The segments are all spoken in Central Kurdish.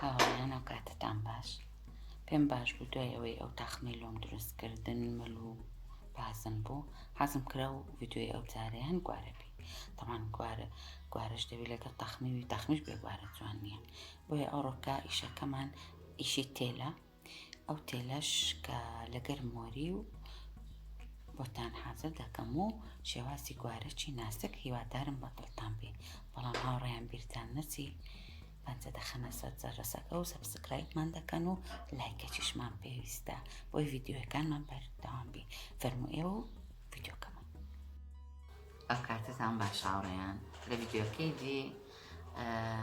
هاوڕێیان ئەو کاتتان باش پێم باش بوو دوای ئەوەی ئەو تاخمی لۆم دروستکردن مل و بازم بوو حەزم کرا و ڤیددیوی ئەو جارێ هەن گوارەبی تەمان گوارە گوارش دەوی لەگەڵ تەخمیوی تەخمیش بێگوارە جوان نییە بۆیە ئەو ڕۆکە ئیشەکەمان ئیشی تێلە ئەو تێلەش کە لەگەر مۆری و بۆتان حازر دەکەم و شێوازی گوارەچی ناسک هیوادارم بەدڵتان بێ بەڵام هاوڕێیان بیرتان نەچی بەنجە دەخەنە سەر جەرەسەکە و سەبسکرایبمان دەکەن و لایکەچیشمان پێویستە بۆی ڤیددیوەکانمان بەردەوام بێ فەرمو ئێوە و ڤیددیوکەمە ئەم کاتتان باش هاوڕێیان لە ڤیددیوەکەی دی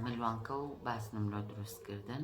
ملوانکە و باسنم لۆ دروستکردن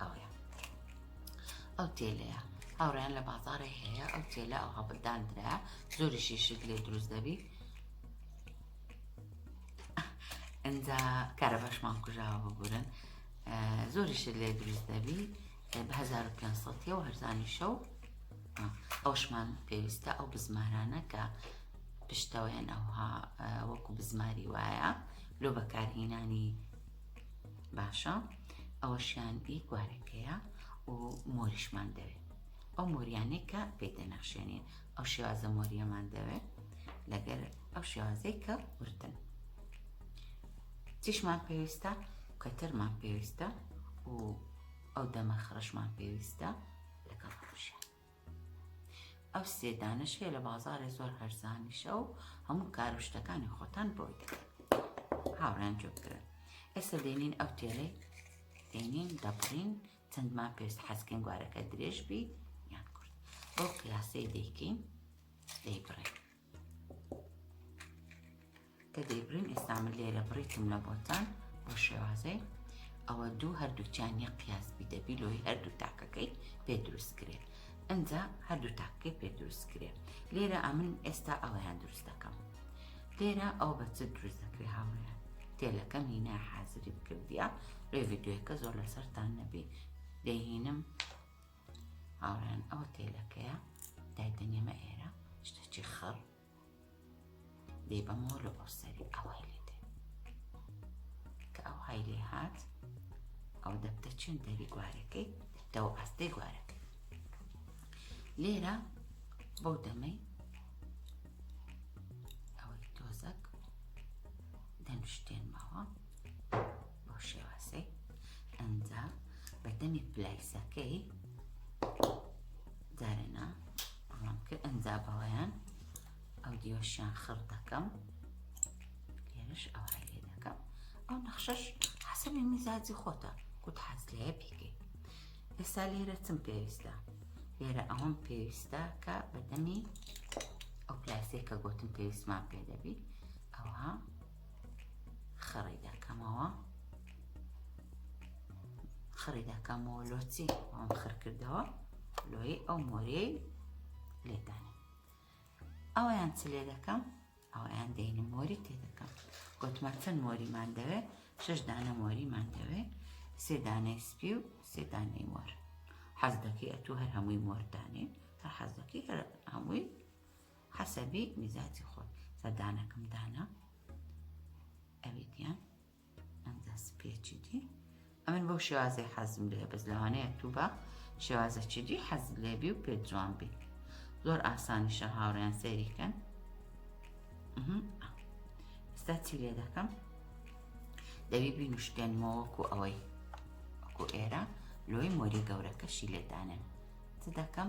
ئەوەیە ئەو تێلەیە هاوڕێیان لە بازارێ هەیە ئەو تێلە ئەو هەبداندرا زۆری شیشک لێ دروست دەبی ئەجا کارە باشمان کوژاوە بگورن زۆری شت لێ دروست دەبی بە 1500 و هەرزانی شەو ئەوشمان پێویستە ئەو بزمارانە کە پشتەوەیان ئەوها وەکو بزماری وایە لۆ بەکارهینانی باشە ئەوەشیان ئی گوارەکەیە و مۆریشمان دەوێت ئەو مۆریانەی کە پێی دەنەخشێنین ئەو شێوازە مۆریەمان دەوێت لەگەر ئەو شێوازەی کە وردن چیشمان پێویستە کەتەرمان پێویستە و ئەو دەمە خڕشمان پێویستە لەگەڵ خۆشیان ئەو سێ دانە شێ لە بازارێ زۆر هەرزانیشە و هەموو کار و شتەکانی خۆتان بۆی دەکەن هاوڕیان جۆ بکرن ئێستا دێنین ئەو تێلەی دێنین دەبڕین چەندمان پێست حەزکەین گوارەکە درێژ بیت یان کورد بۆ قیاسەی دەیکەین دەیبڕێن کە دەیبرین ئێستا من لێرە بڕیتم لە بۆتان بۆ شێوازێ ئەوە دوو هەردووچیان یە قیاس بی دەبی لۆی هەردوو تاکەکەی پێ دروست کرێ ئەجا هەردوو تاکەکەی پێ دروست کرێ لێرە ئەمن ئێستا ئەویان دروست دەکەم لێرە ئەو بە چ دروست دەکرێ هاوریان تێلەکەم هینا حازری بکردە ڕێ ڤیددیوەکە زۆر لەسەرتان نەبی دەهینم هاوڕێیان ئەوە تێلەکەیە دایدەنێمە ئێرە شتەچی خڕ دێ بەمەوە لە ئۆسەری ئەوهای لێ دێ کە ئەو های لێ هات ئەو دەبتە چێن دەری گوارەکەی دەبتەوە ئاستەی گوارەکەی لێرە بەو دەمەی ئەوەی تۆزەک دەنوشتێنمەوە بۆ شێوازەی ئەنجا بەدەمی پلایسەکەی دارێنا ڕام کرد ئەنجا بەوەیان ئەو دیۆشیان خڕ دەکەم لێرش ئەو هەلێ دەکەم ئەو نەخشەش حەسەبی میزاجی خۆتە کوت حەز لەیە بکەیت ئێستا لێرە چم پێویستە لێرە ئەوەم پێویستە کە بەدەمی ئەو پلاسێک کە گوتم پێویستمان پێ دەبی ئەوها خڕی دەکەمەوە خڕی دەکەمەوە لۆچی ئەم خڕ کردەوە لۆی ئەو مۆریەی لێدانێ ئەویان چ لێ دەکەم ئەویان دەینە مۆری تێ دەکەم گوتمە چەند مۆریمان دەوێت شش دانە مۆریمان دەوێت سێ دانەی سپی و سێ دانەی مۆر حەز دەکەی ئەتوو هەر هەمووی مۆردانێ هەر حەز دەکەی هەر هەمووی حەسەبی میزاجی خۆت سەردانەکم دانا ئەوی دیان ئەم دەست پێچی دی ئەمن بۆ شێوازی حەزم لێ بەس لەوانەیە تو بە شێوازەکی دی حەز لێبی و پێ جوان بی زۆر ئاسانیشە هاوڕیان سەیریکەن ئستا چی لێ دەکەم دەوی بینوشتێنمەوەکو ئەوەی وەکو ئێرە لۆی مۆری گەورەکەشی لێدانێن چ دەکەم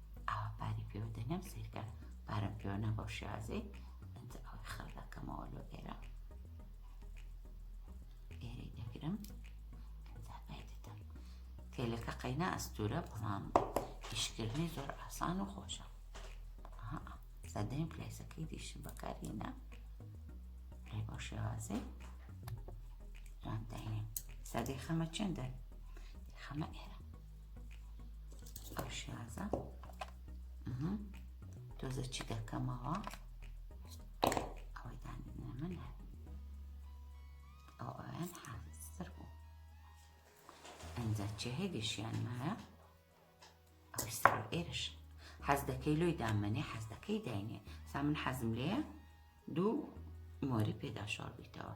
ئاوا پارەی پێوە دەنێم سیرکە پارەم پێوە نا بەو شێوازەی ئەنجا ئەوەی خەڵ دەکەمەوە لۆ ئێرە ئێرەی دەگرم ئەنجا پای دەدەم تێلەکە قەینا ئەستورە بەڵام ئیشکردنی زۆر ئاسان و خۆشە سەدەیم پلەیسەکەی دیشم بەکارینە لێ بەو شێوازەی ڕانداینێ سەدەی خەمە چێندە خەمە ئێرە ئەو شازە تۆزە چی دەکەمەوە ئەوەی دانێنە من هەر ئەو ئەویان حازتر بوو ئەنجا چێ هێگەشیان مایە ئەوەی سەر ئێرش حەز دەکەی لۆی دامەنێ حەز دەکەی داینێ سا من حەزم لێە دوو مۆری پێدا شۆڕ بیتەوە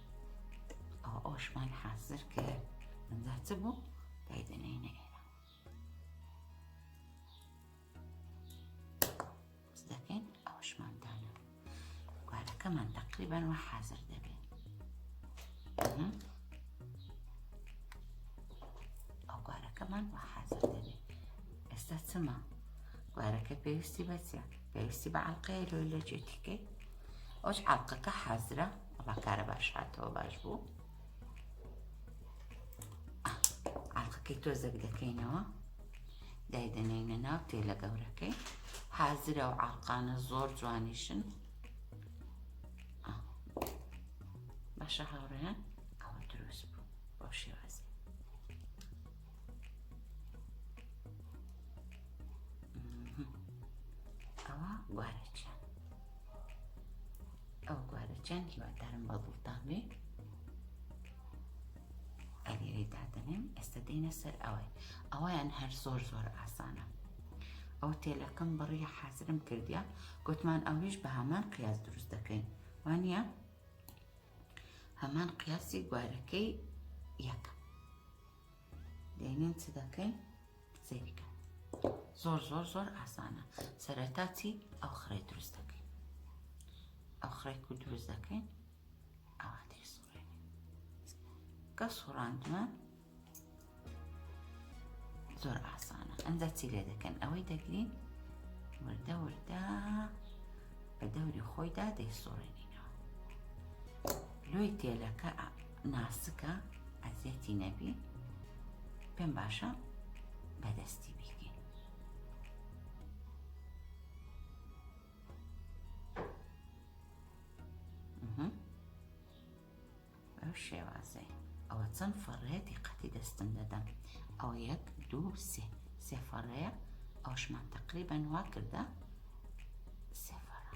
ئەوە ئەوشمان حازر کرد ئەمجا چ بوو دای دەنێینە ئێرە دەکەین ئەوشمان دانە گوارەکەمان تقریبان وە حازر دەبێت ئەو گوارەکەمان وە حازر دەبێت ئێستا چما گوارەکە پێویستی بەچە پێویستی بە عڵلقەیە لۆی لە جێتیکەی ئەوش عڵلقەکە حازرە وەڵا کارە باش هاتەوە باش بوو ئاڵقەکەی تۆزەک دەکەینەوە دایدەنێنە ناو تێلە گەورەکەی حازرە و ئاڵقانە زۆر جوانیشن باشە هاوڕێن ئەوە دروست بوو بۆ شێوازی ئەوە گوارەچە ئەو گوارە چەن هیوادارم بە دڵتان بێ ئەلێرەی دادەنێم ئێستا دێنە سەر ئەوەی ئەویان هەر زۆر زۆر ئاسانە ئەو تێلەکەم بڕی حازرم کردیا گوتمان ئەویش بە هەمان قیاس دروست دەکەین وانە هەمان قیاسی گوارەکەی یەکە دێنین چ دەکەین سەیری کە زۆر زۆر زۆر ئاسانە سەرەتا چی ئەو خڕێ دروست دەکەین ئەو خڕێک و دروست دەکەین ئاواتری سوڕێنین کە سوڕاندمان زۆر ئاسانە ئەنجا چی لێ دەکەن ئەوەی دەگرین وردە وردە بە دەوری خۆیدا دەیسوڕێنینەوە لۆی تێلەکە ناسکە ئەزیەتی نەبی پێم باشە بەدەستی بیکەین بەو شێوازەی ئەوە چەند فەڕێتی قەتی دەستم دەدەم ئەو یەک دوو سێ سێ فەڕەیە ئەوشمان تقریبا وا کردە سێ فەڕە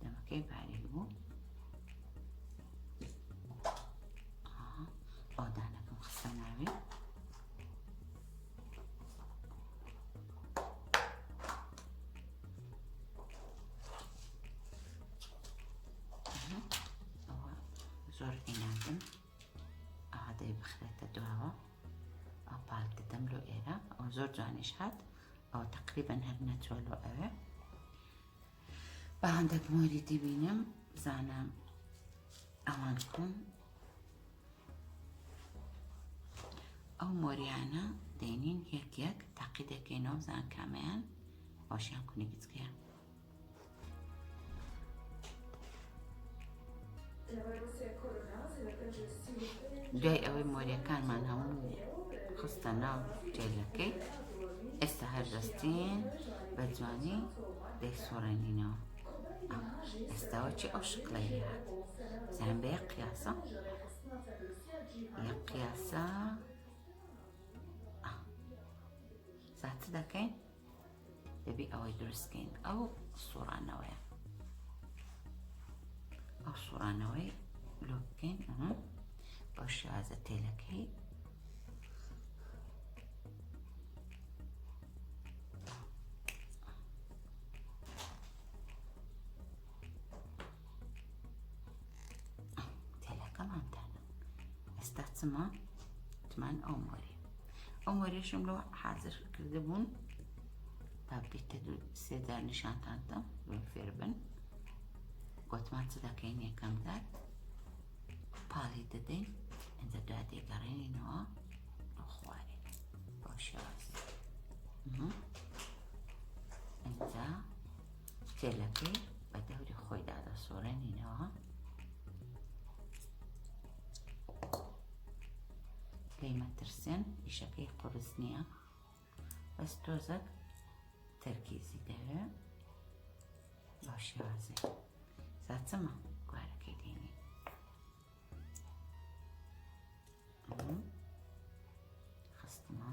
دەمەکەی بارێل بوو ئەودانەکەم خستە ناوێ زۆر ئیناکەم ئادەی بخرێتە دواوە ئەو پاک دەدەم لۆ ئێرە ئەو زۆر جوانیش هات ئەو تقریبا هەر نەچۆ لۆ ئەوێ بە هەندەک مۆری دەبینم بزانە ئەوان کۆن ئەو مۆریانە دەینین یەک یەک تاقی دەکەینەوە بزان کامیان باشیان کونی گچکەیە دوای ئەوەی مۆریەکانمان هەموو خستە ناو جێلەکەی ئێستا هەر دەستین بە جوانی دەیسۆڕێنینەوە ئێستاوە چی ئەو شکڵی هات زان بە یەک قیاسە یەک قیاسە زیاتر دەکەین دەبی ئەوەی دروستکەین ئەو سوڕانەوەیە ئەو سوڕانەوەی لۆ بکەین ئەمە بۆ شازە تێلەکەی تێلەکەمانتانە ئێستا چما تمان ئەو مۆری ئەم وەرێشم لۆ حازر کرده بوون تابلێتە دوو سێدا نیشانتانتم بێن فێر بن گوتمان چ دەکەین یەکەم دار پاڵی دەدەین ئەجا دا دێگەڕێنینەوە بۆ خوارێ بۆ شێواز ئەجا تێلەکەی بە دەوری خۆیدا دەسۆرێنینەوە لێی مەترسێن ئیشەکەی قورس نییە بەس تۆزەک تەرکیزی دەوێ بە شێوازێ ساچەمە گوارەکەی دێنی خستمە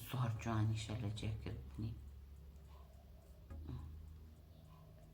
زۆر جوانیشە لە جێکردنی